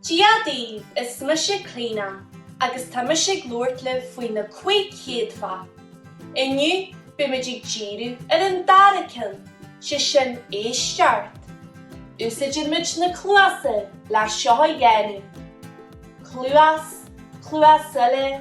Dia daoibh, is mise Clíodhna agus tá mise ag labhairt libh faoi na cúig chéadfa. Inniu, beidh muid ag díriú ar an dara ceann, sé sin éisteacht. Úsáideann muid na cluasa le seo a dhéanamh, cluas, cluas eile,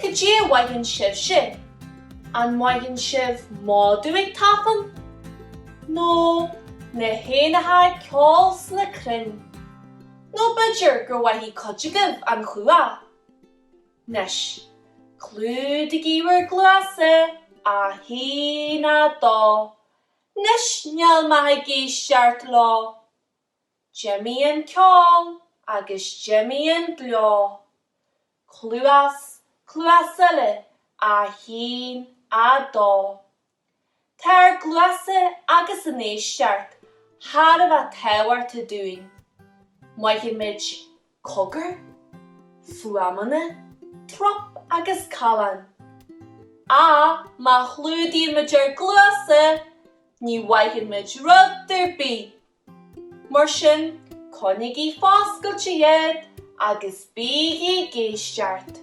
Cad é a mhothaíonn sibh sin? An mothaíonn sibh madadh ag tafann? Nó na héanacha ag ceol sna crainn? Nó b'fhéidir gur mhothaigh cuid agaibh an chuach? Anois, clúdaigí bhur gcluasa, 1, 2, Anois, níl maith ag éisteacht leo. D'imigh an ceol agus d'imigh an gleo. Cluas, cluas eile, a haon, a dó. Tá ár gcluasa agus an éisteacht thar a bheith tábhachtach dúinn. Mothaíonn muid cogair, fuaimeanna, trup agus callán. Ach má chlúdaíonn muid ár gcluasa, ní mhothaíonn muid rud ar bith Mar sin, coinnigí foscailte iad agus bígí ag éisteacht.